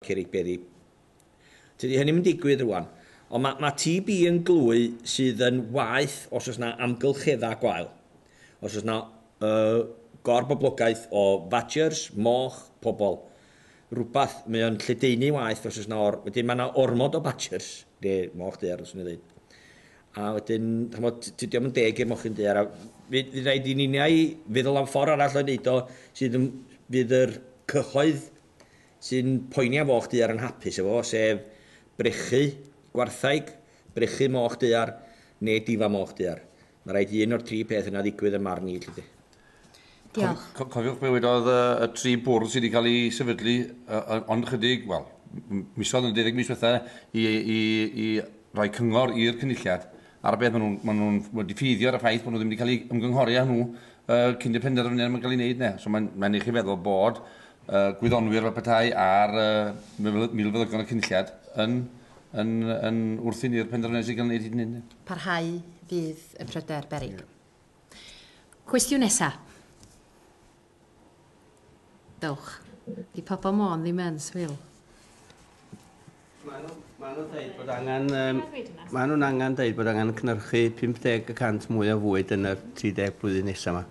Cerrig Beddi. Tydi hynny'm yn digwydd rŵan. Ond ma' ma' TB yn glwy sydd yn waeth os oes 'na amgylcheddau gwael. Os oes 'na yy gorboblogaeth o fadgers, moch, pobl, rwbath, mae o'n lledaenu waeth os oes 'na or-... Wedyn mae 'na ormod o badgers, neu moch daear fyswn i'n ddeud. A wedyn, ch'mod, tydi o'm yn deg i'r mochyn daear a fydd fydd raid i ninnau feddwl am ffordd arall o wneud o sydd yn fydd yr cyhoedd sy'n poeni am foch daear yn hapus efo fo, sef brechu gwarthaig, brechu moch daear, neu difa moch daear. Mae rhaid i un o'r tri peth yna ddigwydd yn marn i, lly de. Diolch. Co cofiwch be wedodd y, y tri bwrdd sydd wedi cael ei sefydlu uh, ond chydig, wel, misodd yn deuddeg mis diwetha i, i, i roi cyngor i'r cynulliad ar y beth maen nhw'n ma nhw wedi ffeiddio ar y ffaith bod nhw ddim wedi cael ei ymgynghori â nhw uh, cyn y penderfyniad mae'n cael ei wneud ne. So mae'n ma i chi feddwl bod y gwyddonwyr fel petai a'r uh, milfeddygon y cynulliad yn, yn, yn wrthyn i'r penderfyniad sy'n cael ei wneud hyd yn Parhau fydd y pryder, Berig. Yeah. Cwestiwn nesa. Dewch. Di pobl môn ddim yn swil. Maen nhw'n angen dweud bod angen cynhyrchu 50 y cant mwy o fwyd yn yr 30 blwyddyn nesaf yma.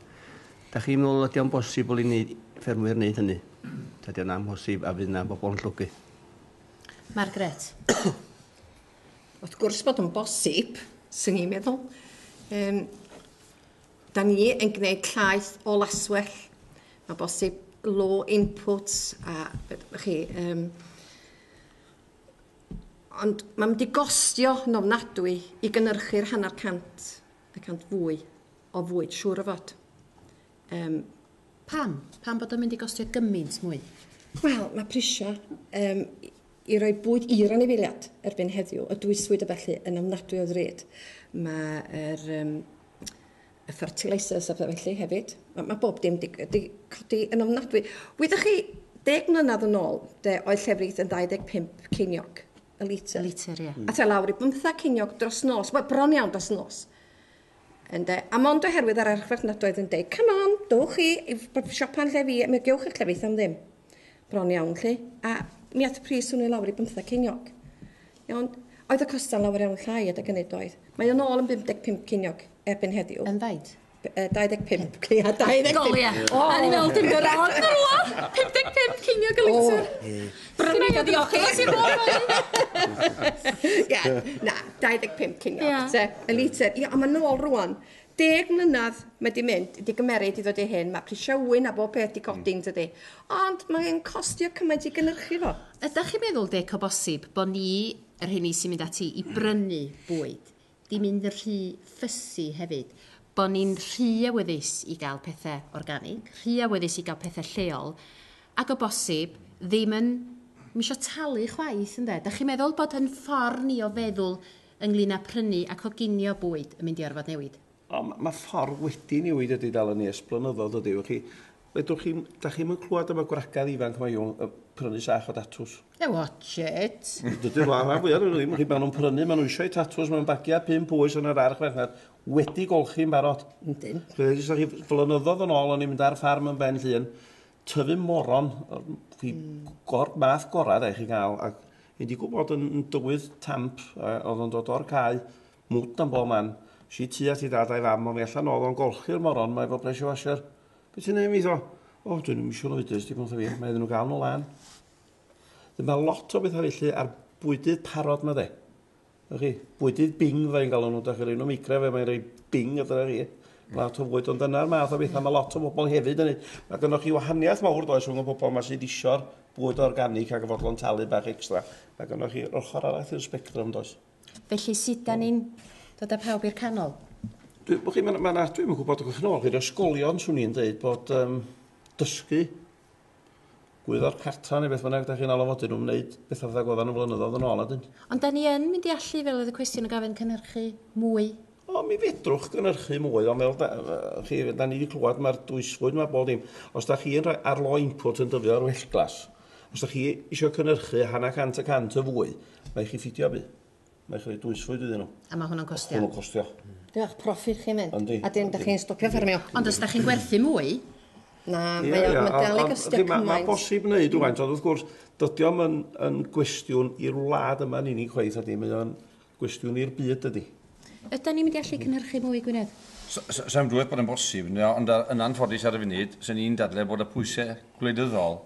Da chi'n meddwl ydy o'n bosibl i ni ffermwyr wneud hynny? Dydy o'n amhosib a fydd yna bobl yn llwgu. Margaret. Wrth gwrs bod o'n bosib, sy'n ni'n meddwl. Um, Da ni yn gwneud llaeth o laswell. Mae bosib low input a chi... Um, ond mae'n mynd i gostio yn ofnadwy i gynnyrchu'r hanner cant y cant fwy o fwyd, siŵr o fod. Um, Pam? Pam bod o'n mynd i gostio gymaint mwy? Wel, mae prisiau um, i roi bwyd i'r anifeiliad erbyn heddiw, y dwyswyd y felly yn ofnadwy o ddrud. Mae'r um, y fertilisers a pethau felly hefyd. Mae, mae bob dim di, di codi yn ofnadwy. Wyddoch chi, deg mlynedd yn ôl, de, oedd llefrith yn 25 ceiniog y litr. Y litr, ie. Mm. A te lawr i bymthau ceiniog dros nos. Wel, bron iawn dros nos. Ynde? A mond oherwydd yr archfarchnadoedd yn deud, come on, dowch chi i siopa'n lle fi, mi gewch eich llefrith am ddim. Bron iawn, lli. A mi at pris hwnnw i lawr i bymtheg ceiniog. Iawn? Oedd y costa'n lawer iawn llai adeg ynny, doedd? Mae o'n ôl yn 55 ceiniog erbyn heddiw. Yn faint? 25 ceiniog, 25. Golia. O! A ni fel dim gorau ond yn rhywle. 55 ceiniog y litr. Brynu fo diolch i ti fod. Ie, na, 25 ceiniog, te, y litr. Ie, ond mae'n ôl rwan. Deg mlynedd mae 'di mynd, 'di gymeryd i ddod i hyn, mae prisiau ŵyn a bob peth 'di codi yn dydi? Ond mae'n costio cymaint i gynhyrchu fo. Ydach chi'n meddwl Dic o bosib bo ni, yr rheini sy'n mynd ati i brynu bwyd, 'di mynd yn rhy fussy hefyd? Bo ni'n rhy awyddus i gael pethe organig, rhy awyddus i gael pethe lleol, ac o bosib ddim yn isio talu chwaith ynde? Dach chi'n meddwl bod yn ffor ni o feddwl ynglŷn â prynu a coginio bwyd yn mynd i orfod newid. Ond mae'r ffordd wedi newid ydy dal yn nes blynyddoedd ydy. Ydych chi, fedrwch chi, da chi'm yn clywed am y gwragedd ifanc mae nhw'n prynu sach o datws. E watch it! Dydy'r rhan fwyaf nhw ddim, chi, maen nhw'n prynu, maen nhw eisiau eu tatws, maen nhw'n bagiau pump oes yn yr arch merchnad, wedi golchi'n barod. Yndyn. Rydyn, ydych chi, flynyddoedd yn ôl o'n i'n mynd ar ffarm yn Ben Llŷn, tyfu moron, chi gor, math gorau dde chi gael, ac yn digwydd bod yn dywydd tamp, oedd yn dod o'r cae, mwt am bob man, si tu at i dad a'i fam, ond mi allan oedd o'n golchi'r moron, mae efo pressure washer. Beth ti'n ei mi ddo? O, dwi'n ddim eisiau oedus, dim ond fi, mae iddyn nhw gael nhw lan. Dyma lot o bethau felly ar bwydydd parod mae dde. Ych chi, bwydydd bing fe i'n galw nhw, da chi rei nhw micro fe, mae'n rei bing a dyna chi. Lot o fwyd, ond dyna'r math o bethau mae lot o bobl hefyd yn ei. Mae gynnwch chi wahaniaeth mawr does rhwng y bobl yma sydd eisiau'r bwyd organic ac y fodlon talu bach extra. Mae gynnwch chi ochr arall i'r spectrum does. Felly sut da ni'n dod â pawb i'r canol? Dwi, chi, mae'n ma, ma dwi'n gwybod, gwybod, chi'n ôl, chi'r ysgolion, swn i'n dweud bod um, dysgu gwyddor cartra neu beth bynnag da chi'n alw fo, dyn nhw'n wneud bethau fatha goddan nhw flynyddoedd yn ôl a dyn. Ond da ni yn mynd i allu, fel oedd y cwestiwn yn gofyn, cynhyrchu mwy? O, mi fedrwch gynhyrchu mwy, ond fel da, chi, da ni wedi clywed mae'r dwysfwyd mae bob dim. Os da chi'n rhoi ar lo input yn dyfio ar wellglas, os da chi eisiau cynhyrchu hanner cant y cant o fwy, mae chi ffidio bu. Mae eich rhaid dwysfwyd iddyn nhw. A mae hwnna'n costio? Hwnnw'n costio. Diolch, proffid chi'n mynd. Yndi. A dim, da chi'n stopio ffermio. Ond os da chi'n gwerthu mwy? Na, mae o'n dal i gostio cymaint. Mae'n bosib wneud rhywfaint, ond wrth gwrs, dydy o'm yn, yn gwestiwn i'r wlad yma'n unig chweith ydy, mae o'n gwestiwn i'r byd ydy. Ydy ni'n mynd i allu cynhyrchu mwy i Gwynedd? Sa'n dweud bod yn bosib, ond yn anffodus ar y funud, sy'n ni'n dadle bod y pwysau gwleidyddol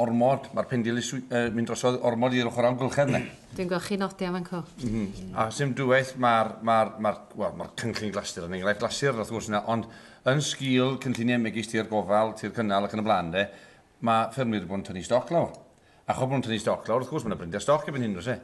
ormod, mae'r pendilys yn mynd drosodd ormod i'r ochr amgylchedd yna. Dwi'n gweld chi nodi am fan co. Mm. A sy'n dwywaith mae'r ma ma well, ma cynllun glasur yn enghraifft glasur wrth gwrs yna, ond yn sgil cynlluniau megis tir gofal, tir cynnal ac yn y blaen de, mae ffermwyr wedi bod yn tynnu stoc lawr. Ac o bod yn tynnu stoc lawr, wrth gwrs mae yna brynder stoc erbyn hyn, oes e?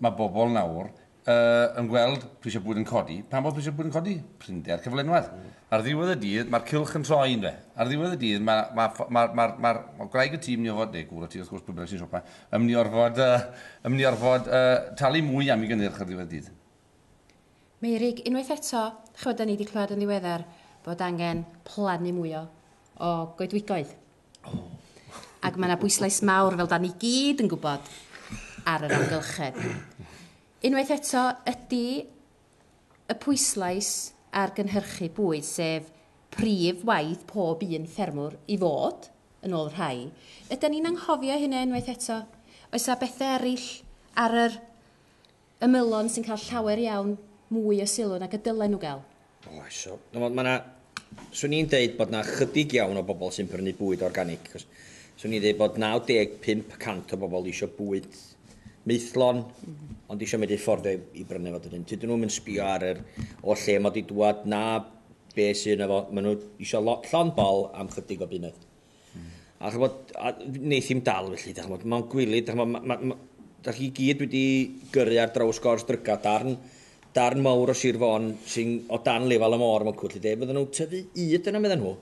Mae bobl nawr Uh, yn gweld prisiau bwyd yn codi. Pam bod prisiau bwyd yn codi? Prinder cyflenwad. Mm. Ar ddiwedd y dydd, mae'r cylch yn troi yn fe. Ar ddiwedd y dydd, mae ma, ma, ma, ma, ma gwraig y tîm ni orfod, neu gwr y tîm, wrth gwrs, pwy sy'n siopa, ym ni orfod, uh, ym ni orfod uh, talu mwy am i gynnyrch ar ddiwedd y dydd. Meirig, unwaith eto, chywed, da ni wedi clywed yn ddiweddar bod angen plannu mwy o, o goedwigoedd. Ac mae yna bwyslais mawr, fel da ni gyd yn gwybod, ar yr amgylchedd. Unwaith eto, ydy y pwyslais ar gynhyrchu bwyd, sef prif waith pob un ffermwr i fod, yn ôl rhai, ydan ni'n anghofio hynna unwaith eto? Oes 'na bethe eraill ar yr ymylon sy'n cael llawer iawn mwy o sylw nag y dylen nhw gael. Oes, so, mae yna... Swn i'n deud bod yna chydig iawn o bobl sy'n prynu bwyd organig. Cos, swn i'n deud bod 95 y cant o bobl eisiau bwyd maethlon, ond eisiau medru ffordd i, i brynu fo dydyn. Tydyn nhw'n mynd sbio ar yr o lle mae wedi dwad na be sy'n efo. Maen nhw eisiau lot llon bol am chydig o bunnoedd. A chymod, a wneith hi'm dal felly, da chymod, mae'n gwylyd, da chymod, mae, ma, da chi gyd wedi gyrru ar draws gors dryga, darn, darn mawr o Sir Fôn sy'n o dan lefel y môr mae'n cwrdd, de, fydden nhw'n tyfu yd yna, meddyn nhw.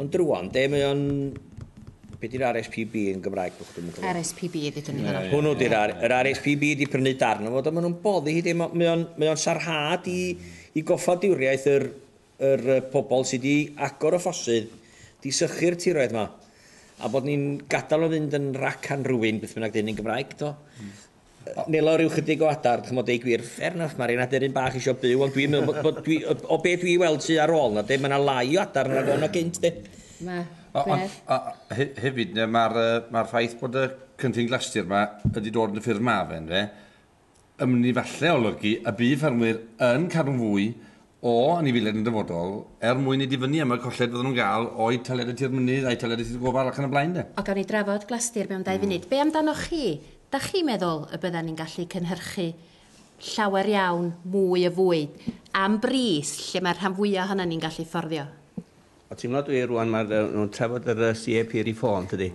Ond drwan, de, mae o'n... Be di'r RSPB yn Gymraeg? RSPB ydy dyn ni fanna. Hwnnw di'r yr RSPB wedi prynu darn o fod, a maen nhw'n boddi hi, de, mae o'n sarhad i, i goffadwriaeth yr, yr pobl sy' 'di agor y ffosydd, 'di sychu'r tiroedd 'ma, a bod ni'n gadael o fynd yn rac and ruin, beth bynnag 'di hyn yn Gymraeg, do? Nelo ryw chydig o adar, ch'mod, deu gwir, fair enough, ma' r'un aderyn bach isio byw, ond dwi'n meddwl bod, dwi, o be' dwi weld tu ar ôl 'na, de, ma' 'na lai o adar yna nag o' 'na gynt, de. Ma', fair. A hefyd, ma'r, ma'r ffaith bod y cynllun glastir 'ma wedi dod yn y ffurf ma' fe, ynde, yn efallai olygu y bydd ffermwyr yn cadw'n fwy o anifeiliaid yn y dyfodol er mwyn i difynnu am y colled fyddan nhw'n gael o'u taliadau tir mynydd a'u taliadau tir gofal ac yn y blaen de. O gawn ni drafod glastir mewn dau funud. Be amdanoch chi? Dach chi'n meddwl y byddan ni'n gallu cynhyrchu llawer iawn mwy o fwyd am bris lle mae'r rhan fwya' ohonon ni'n gallu fforddio? Wel ti'n gwbod dwi rŵan ma' yy nhw'n trafod yr yy CAP Reform tydi?